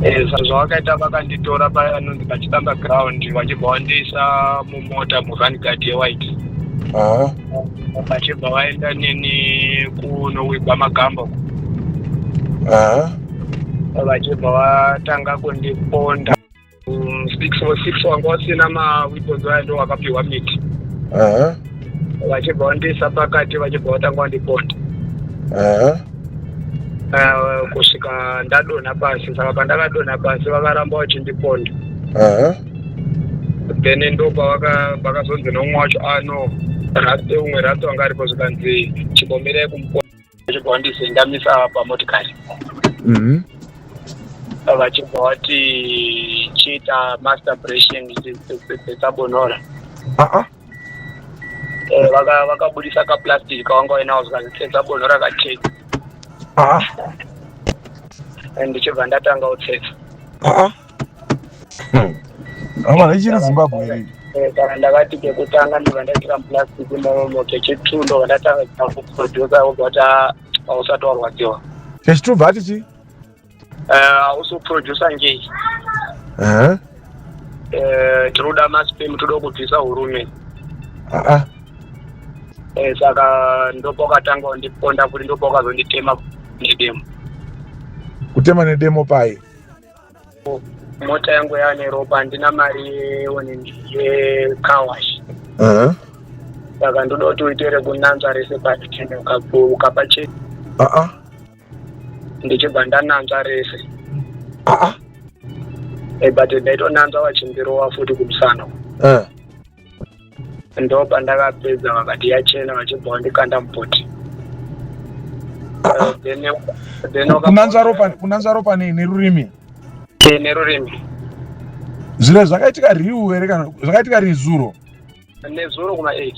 Eh, zvazvawakaita vakanditora paya anonzi pachibamba ground vachibva vandiisa mumota murun guard yewhite Aha. vachibva vaenda neni kunowigwa magamba uko. Aha. vachibva vatanga kundiponda Mm, six for six wanga wasina maweapons aya ndo wakapiwa miti Aha. vachibva vandiisa pakati vachibva vatanga vandiponda Aha. Eh, kusvika ndadonha pasi saka pandakadonha pasi vakaramba vachindiponda Aha. then ndo pavaka- pakazonzi neumwe wacho ano rate umwe rate wanga aripo zvikanzi chibomberai kumuponda Ndakabva wandise ndamisa pamotikari Mhm. vachibva wati chiita master operation dzabonora Ah ah. Eh, vaka- vakabudisa kaplastic kawanga wainawo zvikanzi dzabonora kacheki Ah ah. and ndichibva ndatanga utsetsa Ah ah. Hama hmm. ichiri Zimbabwe here? Eh, kana ndakati kekutanga ndinga ndaitira muplastic imomo kechitu ndobva ndatanga kuproducer obva kuti ah, hausati warwadziwa kechitu bva ati chii eh, hausi kuproducer ngei eh? tinoda maspem toda kubvisa hurume ah, saka ndopakatanga ndiponda kuti ndopakazonditema nedemo kutema nedemo paye mota yangu yava neropa handina mari yecarwash uh-huh. saka ndoda kuti uite rekunanzva rese patene ukapa chete uh-uh. ndichibva ndananzva rese uh-uh. Eh, but ndaitonanzva vachindirowa futi kumusana uh-huh. ndo pandakapedza vakati yachena vachibva vandikanda mupoti Eh, then- then waka- kunanzva ropa kunanzva ropa nei nerurimi Eh, nerurimi zviro zvakaitika riu here kana zvakaitika rizuro nezuro kuma eight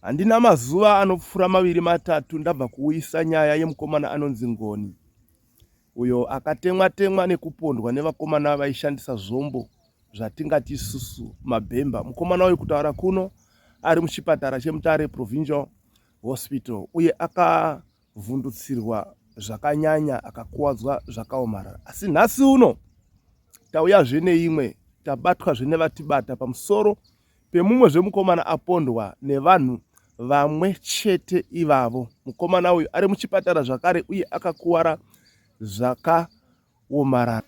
handina mazuva anopfuura maviri matatu ndabva kuuyisa nyaya yemukomana anonzi ngoni uyo akatemwa temwa nekupondwa nevakomana vaishandisa zvombo zvatingati isusu mabhemba mukomana uyu kutaura kuno ari muchipatara chemutare provincial hospital uye akavhundutsirwa zvakanyanya akakuwadzwa zvakaomarara asi nhasi uno tauyazve neimwe tabatwazve nevatibata pamusoro pemumwezve mukomana apondwa nevanhu vamwe chete ivavo. Mukomana uyu ari muchipatara zvakare uye akakuwara zvakaomarara.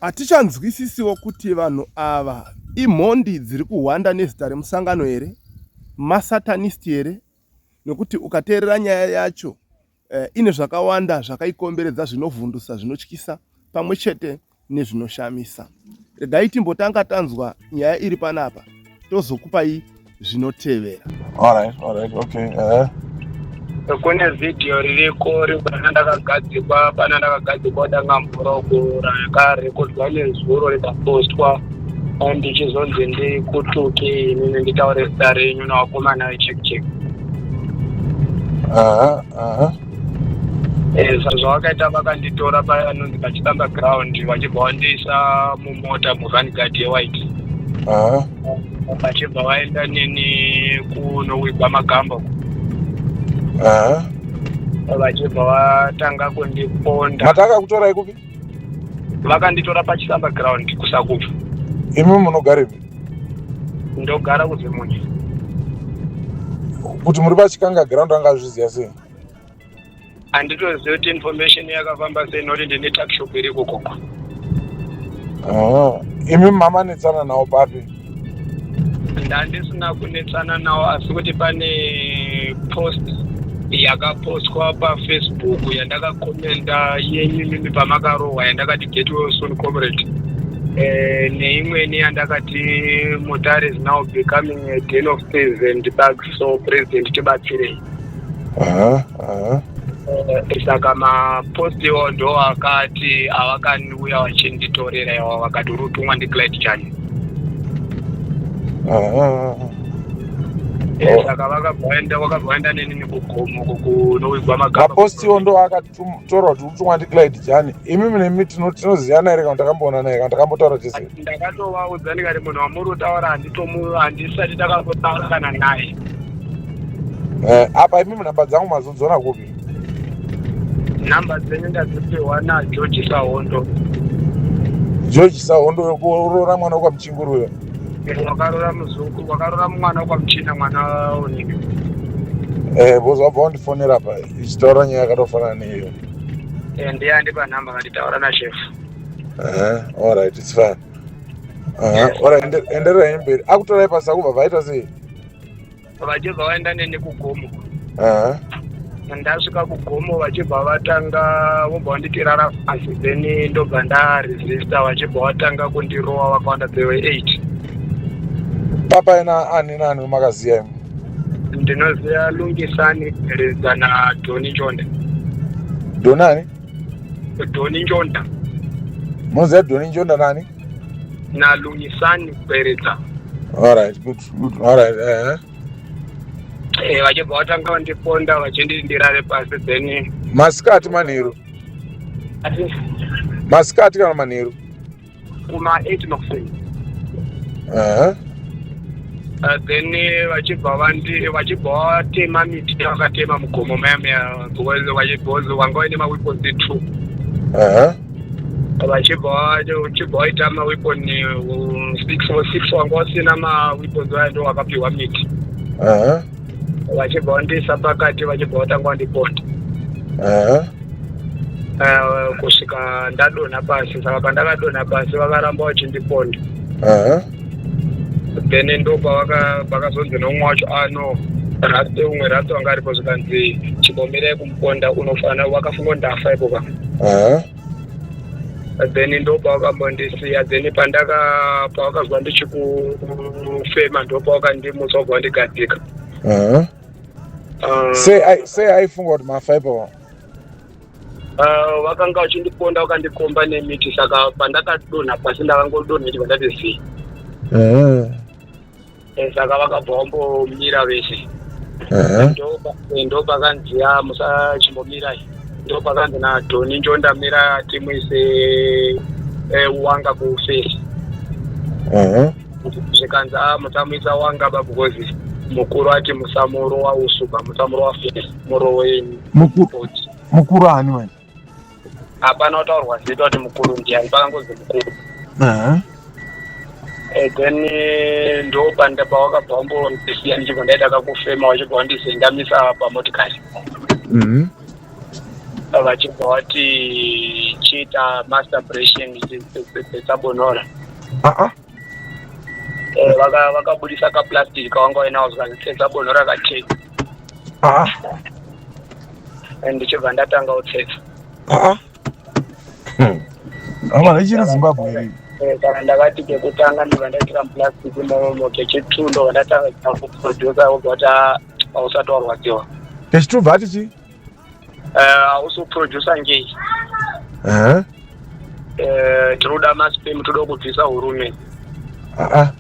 Hatichanzwisisiwo kuti vanhu ava imhondi dziri kuhwanda nezita remusangano here, masatanist here, nekuti ukateerera nyaya yacho Eh, ine zvakawanda zvakaikomberedza zvinovhundusa zvinotyisa pamwe chete nezvinoshamisa regai timbotanga tanzwa nyaya iri panapa tozokupai zvinotevera eh. kune vhidhiyo ririko ribana ndakagadzikwa bana ndakagadzikwa danga mvura kuura yakarekodwa nezuro rikapostwa ndichizonzi ndikutuke inini nditaure zita renyu nevakomana vechekchek aha aha Eh, sa- zvavakaita vakanditora paya anonzi pachibamba ground vachibva vandiisa mumota muvani guard yewhite aha vachibva vaenda neni kunowigwa magamba uko. aha vachibva vatanga kundiponda mataka kutorai kupi vakanditora pachisamba ground kusakubva imi munogarepi ndogara kuzimunye kuti muri pachikanga ground anga azviziva sei handitozivi kuti information yakafamba sei noti ndine takshop iri kukoko imi mama netsana nawo papi ndandisina kunetsana nawo asi kuti pane post yakapostwa pafacebook yandakakomenda yenyu mimi pamakarohwa yandakati get well soon comrade eh, neimweni yandakati mutare is now becoming a den of thieves and bugs so president tibatsirei Aha, aha. Eh, saka mapost iwawo ndo akati avakandiuya vachinditorera iwawo vakati uri kutumwa ndiclad chani Aha. Eh, Oh. saka vakabvaenda vakabvaenda neni nekugomo kunorwigwa magamba Mapostiwo ndo akati taura kuti utumwa ndiglide jani imi nemi tinoziyana here kana takamboona naye kana takambotaura tese ndakatovaudza ndikati munhu wamuri kutaura handisati takambotaura kana naye eh, apa imi nhamba dzangu mazodzona kupi nhamba dzenyu ndadzipiwa nageorge sahondo george sahondo wekuroora mwana wekwamuchinguru uyo wakarora muzungu wakarora mwana wekwamuchina mwana unike eh, bozvabva wandifonera paye ichitaura nyaya yakatofanana neiyo Eh, ndiye andipa nhamba vanditaura nashefu Aha, all right it's fine Aha, Yes. all right ende- endererai mberi akutorai pasi akubva vaita sei vachibva vaenda neni kugomo Aha, ndasvika kugomo vachibva vatanga vobva vanditirara pasi then ndobva ndaresista vachibva vatanga kundirowa vakawanda they were eight papa ina ani nani makaziya imi ndinoziva lungisani lidza nadoni njonda donani doni njonda munoziva doni njonda nani nalungisani kweredza alright good good alright eh Eh, vachibva vatanga vandiponda vachinditi ndirare pasi then masikati manheru ati masikati kana manheru kuma 8 makuseni uh-huh. Uh, then eh, vachibva vandi vachibva vatema miti vakatema mugomo mayamaya because wanga vaine maweapons two vachibva uchibva waita maweapon uh, six or six wanga usina maweapons vaya ndo wakapiwa miti vachibva vandiisa pakati vachibva vatanga vandiponda Aha. Eh, kusvika ndadonha pasi saka pandakadonha pasi vakaramba vachindiponda Aha. then ndo pavaka- pakazonzi nomwe wacho "Ah, ano raste umwe raste wanga aripo zvikanzi chimbomirai kumuponda unofanira wakafunga kuti ndafa ipo ka Aha. then ndopawakambondisiya then pandaka pawakazwa ndichikufema ndopawakandimutsa kubva wandigadzika uh-huh. uh, sei aifunga kuti mafaipa wa uh, vakanga vachindiponda vakandikomba nemiti saka pandakadonha pasi ndakangodonha chibva ndati zii uh-huh. Eh, saka vakabva vambomira vese Aha. ndopakanzi ya musachimbomirai ndopakanzi nadhoni njondamira timuise eh, wanga kufesi Aha. zvikanzi a musamuisa wanga ba because mukuru ati musamuro wausuba musamuro wafesi muroweni Muku- mukuru ani manje hapana kutaurwa zita kuti mukuru ndiani pakangozi mukuru Aha. Eh, then eh, ndopanda pawakabva wambondisiya ndichibva ndaita kakufema wachibva wandizendamisa pamotikari Mhm. vachibva wati chiita master bration dzesabonora Ah ah. Eh, vaka- vakabudisa kaplastic kavanga vainavo zvikanzi tsetsa bono rakacheka aa and ndichibva ndatanga kutsetsa aa Hmm. amana ichiri zimbabwe here Eh, kana ndakati kekutanga ndibva ndaitira muplastic imomo kechitwo ndobva ndatanga kuita kuproducer wobva kuti "Ah, hausati warwadziwa kechitubva ati chii Eh, uso producer ngei Aha. Eh, tinoda maspem toda kubvisa urume Aa.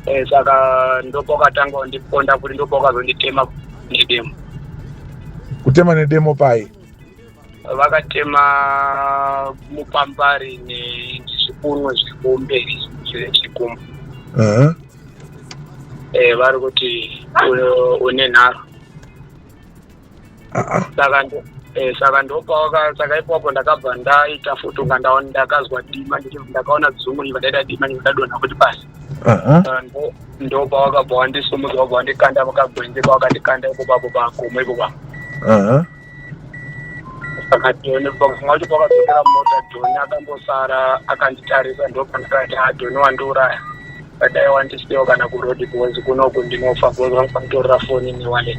Eh, saka ndopakatanga wandiponda kuti ndopakazonditema nedemo Kutema nedemo pai. vakatema mupambari ne- nezvikunwe zvekumberi zvechikumba Aha. Eh, vari kuti u- une nharo saka ndo- eh, saka ndopawaka saka ipapo ndakabva ndaita futi unga ndaona ndakazwa dima ndichibva ndakaona dzungu iva ndaita dima ndichibva ndadonha kuti pasi Aha. Saka ndo- ndopawakabva wandisumudza wabva wandikanda pakagwenzi pawakandikanda ipo papo pagomo ipo papo Aha. saka joni pakumwa wacho pakadzokera mota joni akambosara akanditarisa ndopandakati ha joni wandiuraya but i want to stay kana kuroad because kunoku ndinofa because vanga vatorera foni newallet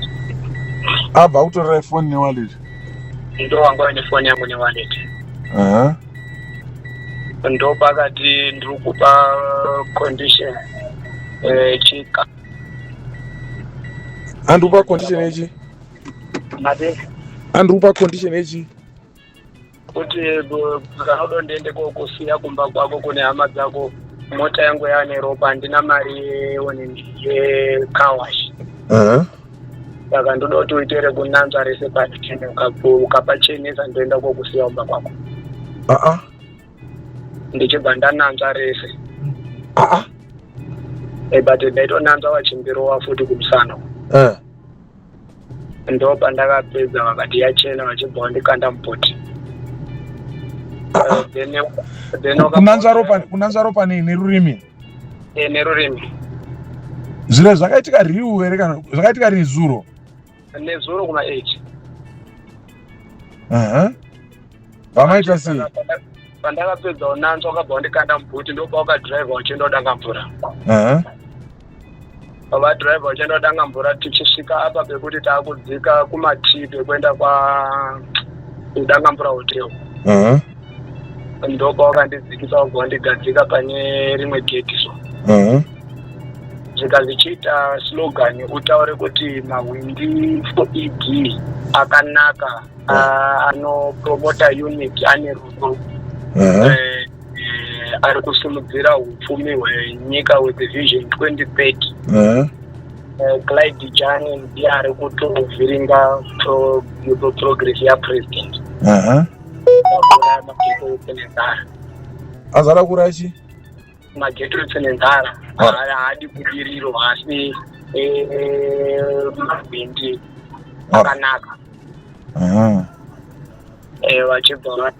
abva kutorera ifoni newallet ndo wanga vaine foni yangu newallet uh-huh. ndo pakati ndiri kupa condition eh, chika andikupa condition yechi mate andikupa condition yechi kuti zvarodo ndiende kokusiya kumba kwako kune hama dzako mota yangu yaane ropa handina mari yekawash saka ndoda kuti uite rekunanzva rese patene ukapachenesa ndoenda kokusiya kumba kwako aa ndichibva ndananzva rese aa eh, but ndaitonanzva vachimbirowa futi kumusana uh. ndo pandakapedza vakati yachena vachibva vandikanda mupoti kunanzva ropa nei nerurimi eh, nerurimi zviro zvakaitika riu here kana zvakaitika rii zuro nezuro kuma eight vamaita sei pandakapedza unanzwa wakabva wandikanda mubhuti ndokuba wakadhiraivha uchienda udanga mvura vadhiraivha vachienda kutanga mvura tichisvika apa pekuti taakudzika kumatii pekuenda kudanga mvura hotel uh-huh. ndopa wakandidzikisa wabva wandigadzika pane rimwe geti so uh-huh. zvika zvichiita slogan utaure kuti mahwindi foeg akanaka uh, anopromota unit ane rudo uh-huh. eh, eh, ari kusimudzira upfumi hwenyika with vision 2030 uh-huh. eh, clyde jane ndiye ari kutovhiringa progress yapresident uh-huh. azara kurachi magetros nenzara haadi kudiriro asi eh, eh, mavindi akanaka mm-hmm. eh, vachibva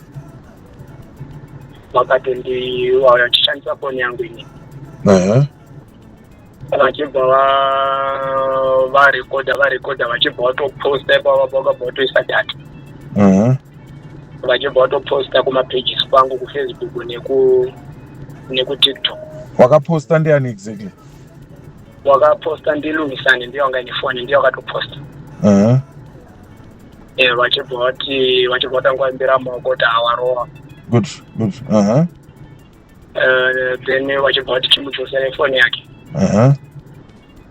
vakati ndiwauya tichishandisa foni yangu ini mm-hmm. vachibva varekodha varekodha vachibva vatoposta ipava vakabva vatoisa data mhm. vachibva vatoposta kumapages kwangu kufacebook neku nekutiktok wakaposta ndiani exactly wakaposta ndilungisani ndiye wanga nefoni ndiye wakatoposta mhm. eh, vachibva vati vachibva vatangwaimbira maoko kuti awarowa good good uh -huh. uh, then vachibva vati timudzosere foni yake uh-huh.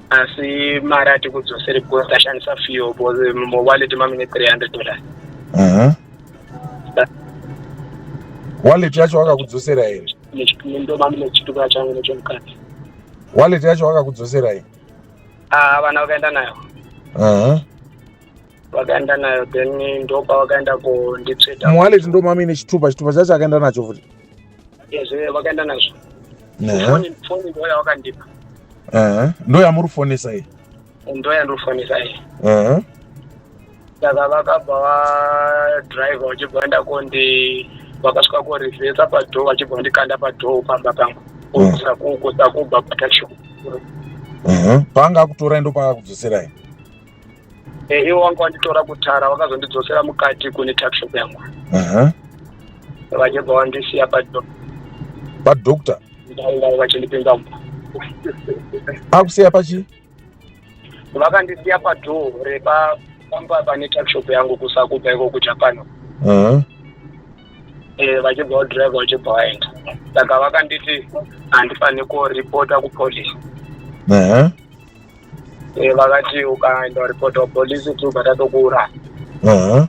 asi mari ati kudzosere because tashandisa fio because mowallet mamine 300 dollars uh-huh. wallet yacho wakakudzosera here ndo mamine chituka changu nechomukadzi wallet yacho wakakudzosera here ah, vana vakaenda nayo uh-huh vakaenda nayo then ndopavakaenda kunditsveta muwaleti ndomamine chitupa chitupa chacho akaenda nacho futi Ezve vakaenda nazvo. Ehe. Foni foni ndo yavakandipa. Ehe. Ndo yamuri fonesa iyi. Ndo yandofonesa iyi. Ehe. Saka vakabva va driver vachibva vaenda kondi vakasvika ko reversa pa door vachibva vandikanda pa door pamba pangu. Mm. Kusa kuko sakubva pa taxi. Ehe. Paanga akutorai ndo paakudzoserai. Eh, ivo vanga vanditora kutara vakazondidzosera mukati kune tuckshop yangu Aha. vachibva vandisiya padhoo Padoctor ndaingai vachindipinza mumba akusiya pachi vakandisiya padhoo repa pamba pane tuckshop yangu kusakubva iko kujapan Aha. Eh, vachibva vadriver vachibva vaenda saka vakanditi handifanire kuripota kupolice Aha. Eh, vakati ukaenda kuripota kupolisi tu vatatokuuraya Aha.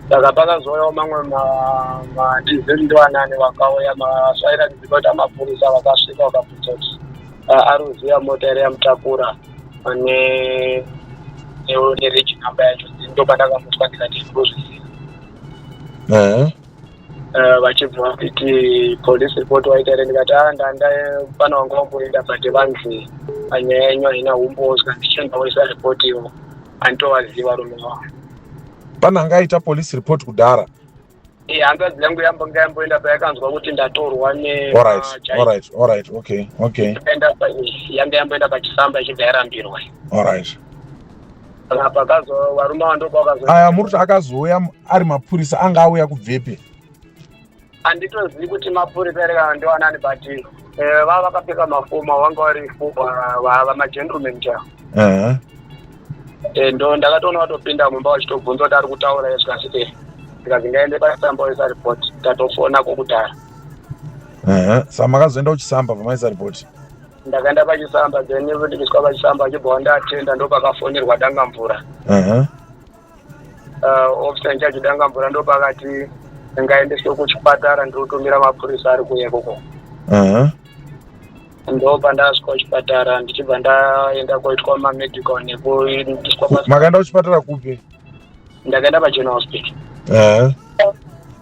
saka pakazouyawo mamwe ma- madizeli ndivanani vakauya masvaira kuziva kuti amapurisa vakasvika vakabvunza kuti ah, ari kuziva mota ere yamutakura ane nereji namba yacho ndopandakamutswa ndikati ndozviziva Aha. Eh, vachibva kuti police report waita here ndikati a ah, ndanda pana wanga wamboenda but vanzi panyaya yenyu haina umbozwa ndichienda woisa report ivo anditovaziva rume wavo pana anga aita police report kudhara eh, hanzvadzi yangu yambanga yamboenda payakanzwa kuti ndatorwa neyanga yamboenda pachifamba ichibva yarambirwa Saka pakazo varume ava ndopa vakazo aya muri kuti akazouya m- ari mapurisa anga auya kubvepi handitozivi kuti mapurisa here kana ndiwanani but eh, vava vakapfeka mafoma vanga vari fo- va- va- vamagentleman chaivo Ehe. Eh, ndo ndakatoona vatopinda mumba vachitobvunza kuti ari kutaura ye zvikasi eh ndikazi ngaende pasamba oisa report tatofona kokudhara Ehe. sa makazoenda kuchisamba pamaisa ripoti ndakaenda pachisamba then ndikiswa pachisamba achibva wandatenda ndopakafonerwa danga mvura uh-huh. uh, officer incharge danga mvura ndopakati ngaendeswe kuchipatara ndinotumira mapurisa ari kuuya ikoko uh-huh. ndopa ndasvika kuchipatara ndichibva ndaenda koitwa mamedical nekuiswa makaenda kuchipatara kupi ndakaenda pageneral hospital uh-huh.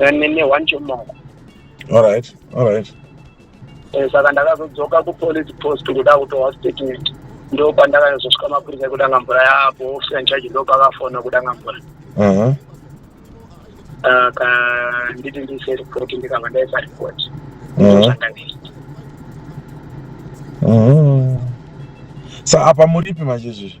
nene one chomoko alright alright Eh, saka ndakazodzoka kupolice post kuda kutohwa statement ndo pandakazosvika mapurisa ekudanga mvura yaapo officer in charge ndo pakafona kudanga mvura Mhm. saka nditi ndiise report ndikabva ndaisa report Mhm. Zvandakaita. Mhm. sa apa muripi manje izvizvi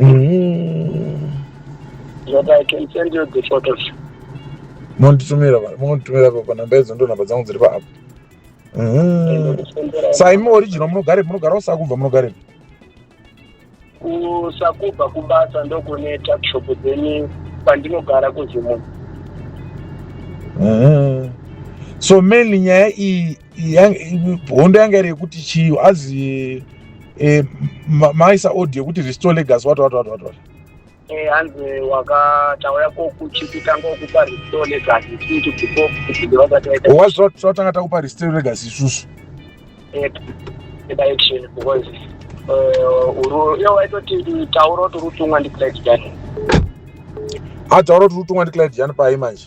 Mm. But I can send you the photos. monditumira mari monditumira pa panhamba idzo ndo nhamba dzangu dziri paapp Mhm. saimi original munogare munogarawo sakubva munogare kusakubva kubasa ndokune tuckshop dzeni kwandinogara kuzimu Mhm. so mainly nyaya iyi hondo yanga iri yekuti chiyo azi eh, maisa audio yekuti restore legas wati wati wati wati wati eh, hanzi wakatauya kokuchikutanga ukupa restore legas isusu before kutiwazvatanga takupa restore legas isusu eh, direction because uru iyo waitoti tauro tiri kutungwa ndiclad jani atauro tiri kutungwa ndiclad jani pai manje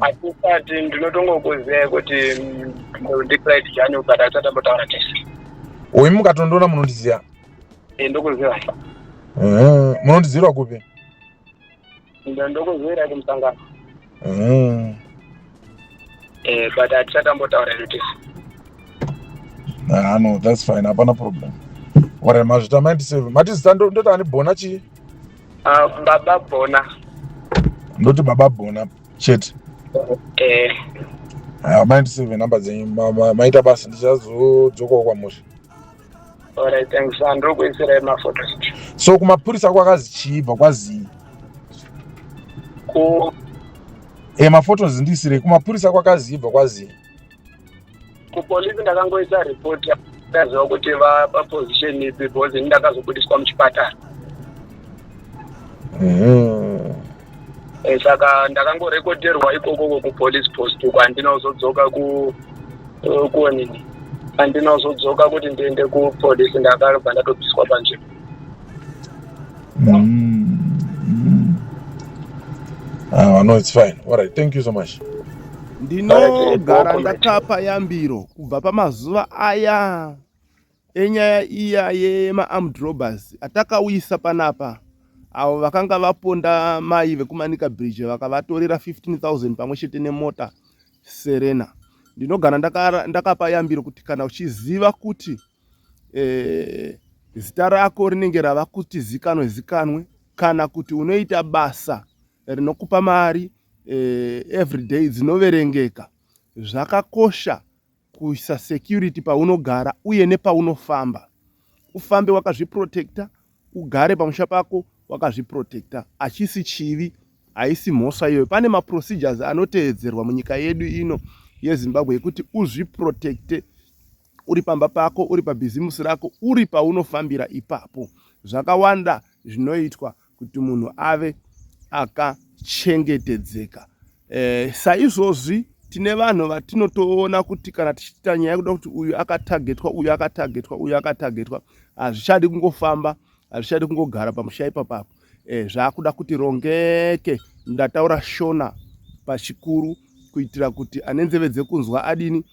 atisati mm. ndinotongokuziva kuti ndicrit jani ukada achatambotaura tese uyu mukatondiona munondiziva eh, ndokuziva mm. munondizirwa kupi ndokuzivira kumusangano mm. eh, but hatichatambotaura notice ah, no that's fine hapana problem whatever mazvita maindiseve mati zita ndotaani bona chii Uh, baba bona ndoti baba bona chete eh. uh, maindiseve number dzenyu maita basa ndichazodzokawo kwamusha alright thanks ah, ndiri kuitsirai mafoto so kumapurisa kwakazi chiibva kwazii ku e eh, mafotos ndisirei kumapurisa kwakazii ibva kwazii kupolisi ndakangoita report ndaziva kuti vaposition ipi because ini ndakazobudiswa muchipatara mm-hmm. eh, saka ndakangorekodherwa ikokoko kupolice post uko andinozodzoka ku eh, kuonini andinozodzoka kuti ndiende kupolice ndakarobva ndatobviswa panzvimbo Mm. Mm. Ah, no, it's fine. All right, thank you so much. Ndinogara ndakapa yambiro kubva pamazuva aya enyaya iya yemaarmed robbers atakauyisa panapa avo vakanga vaponda mai vekumanika bridge vakavatorera 15000 pamwe chete nemota serena ndinogara ndakapa yambiro kuti kana uchiziva kuti eh, zita rako rinenge rava kuti zikanwe zikanwe kana kuti unoita basa rinokupa mari eh, everyday dzinoverengeka zvakakosha kuisa security paunogara uye nepaunofamba ufambe wakazviprotecta ugare pamusha pako wakazviprotecta achisi chivi haisi mhosva iyoyo pane maprocedures anoteedzerwa munyika yedu ino yezimbabwe yekuti uzviprotecte uri pamba pako uri pabhizimusi rako uri paunofambira ipapo zvakawanda zvinoitwa kuti munhu ave akachengetedzeka e, saizvozvi tine vanhu vatinotoona kuti kana tichiita nyaya yekuda kuti uyu akatagetwa uyu akatagetwa uyu akatagetwa hazvichadi kungofamba hazvichadi kungogara pamusha ipapapo e, eh, zvaakuda kuti rongeke ndataura shona pachikuru kuitira kuti ane nzeve dzekunzwa adini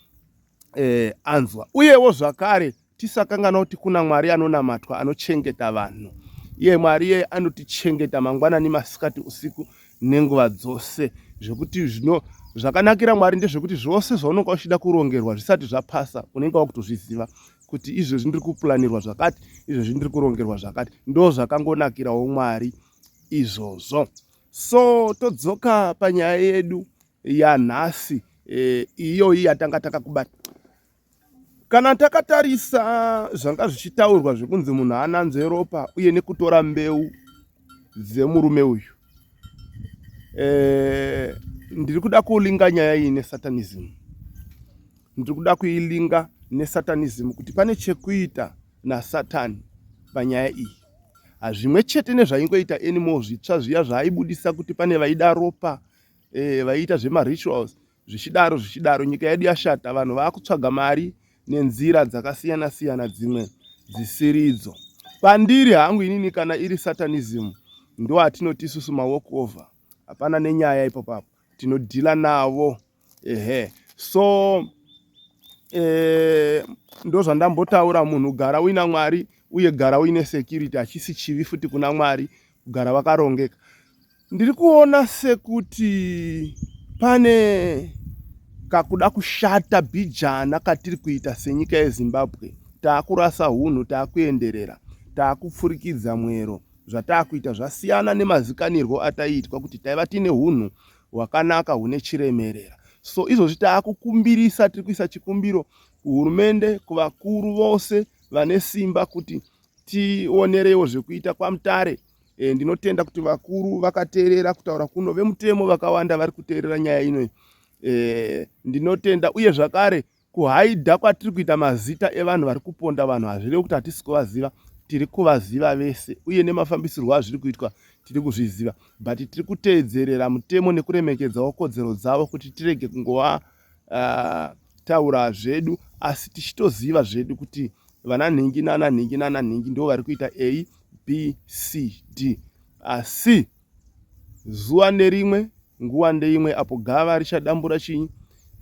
eh, anzwa uyewo zvakare tisakangana kuti kuna mwari anonamatwa anochengeta vanhu iye mwari iye anotichengeta mangwanani masikati usiku nenguva dzose zvekuti zvino zvakanakira mwari ndezvekuti zvose zvaunonga uchida kurongerwa zvisati zvapasa unenge wakutozviziva kuti izvezvi ndiri kupulanirwa zvakati izvezvi ndiri kurongerwa zvakati ndo zvakangonakirawo mwari izvozvo so todzoka panyaya yedu yanhasi eh, iyoyi yatanga takakubata kana takatarisa zvanga zvichitaurwa zvekunzi munhu ananzve ropa uye nekutora mbeu dzemurume uyu eh, ndiri kuda kulinga nyaya iyi nesatanism ndiri kuda kuilinga nesatanism kuti pane chekuita nasatani panyaya iyi hazvimwe chete nezvaingoita anymore zvitsva zviya zvaaibudisa kuti pane vaida ropa eh, vaiita zvemarituals zvichidaro zvichidaro nyika yedu yashata vanhu vakutsvaga mari nenzira dzakasiyana siyana dzimwe dzisiridzo pandiri hangu inini kana iri satanism ndo atinoti isusu mawalk over hapana nenyaya ipopapo tinodhila navo ehe so eh, ndozvandambotaura munhu gara uina mwari uye gara uine security hachisi chivi futi kuna mwari kugara vakarongeka ndiri kuona sekuti pane kakuda kushata bhijana katiri kuita senyika yezimbabwe taakurasa unhu taakuenderera taakupfurikidza mwero zvataakuita zvasiyana nemazikanirwo ataiitwa kuti taiva tiine unhu hwakanaka hune chiremerera so izvozvi taakukumbirisa tiri kuisa chikumbiro kuhurumende kuvakuru vose vane simba kuti tionerewo zvekuita kwamutare e, ndinotenda kuti vakuru vakateerera kutaura kuno vemutemo vakawanda vari kuteerera nyaya ino e, ndinotenda uye zvakare kuhaidha kwatiri kuita mazita evanhu vari kuponda vanhu hazvirevi kuti hatisi kuvaziva tiri kuvaziva vese uye nemafambisirwo azviri kuitwa tiri kuzviziva but tiri kuteedzerera mutemo nekuremekedzawo kodzero dzavo kuti tirege kungova taura zvedu asi tichitoziva zvedu kuti vana nhingi nana nhingi nana nhingi ndo vari kuita a b c d asi zuva nerimwe nguva ndeimwe apo gava richadambura chinyi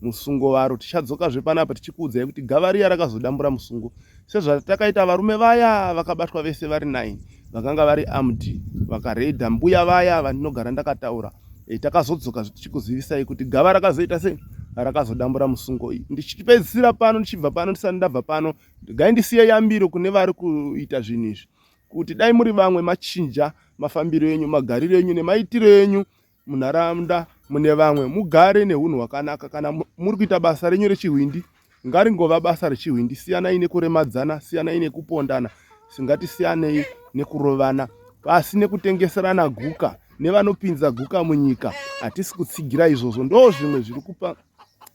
musungo varo tichadzoka zvepanapa tichikuudzai kuti gava riya rakazodambura musungo sezvatakaita varume vaya vakabatwa vese vari 9 vakanga vari amd vakaredha mbuya vaya vandinogara ndakataura e, takazodzoka tichikuzivisai kuti gava rakazoita sei rakazodambura musungo iyi ndichipedzisira pano ndichibva pano ndisati ndabva pano gai ndisiye yambiro kune vari kuita zvinhu izvi kuti dai muri vamwe machinja mafambiro enyu magariro enyu nemaitiro enyu munharaunda mune vamwe mugare neunhu hwakanaka kana muri kuita basa renyu rechihwindi ngaringova basa rechihwindi siyanai nekuremadzana siyanai nekupondana singatisiyanei nekurovana pasi nekutengeserana guka nevanopinza guka munyika hatisi kutsigira izvozvo ndo zvimwe zviri kupa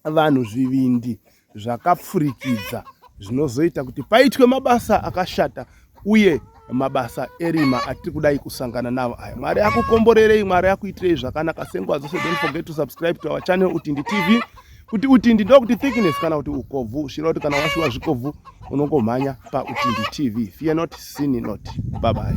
vanhu zvivindi zvakapfurikidza zvinozoita kuti paitwe mabasa akashata uye mabasa erima atiri kudai kusangana navo aya mwari akukomborerei mwari akuitirei zvakanaka senguva dzose don't forget to subscribe to our channel utindi tv kuti utindi ndokuti thickness kana kuti ukobvu zvira kuti kana washuwa zvikobvu unongomhanya pautindi tv fear not sin not bye bye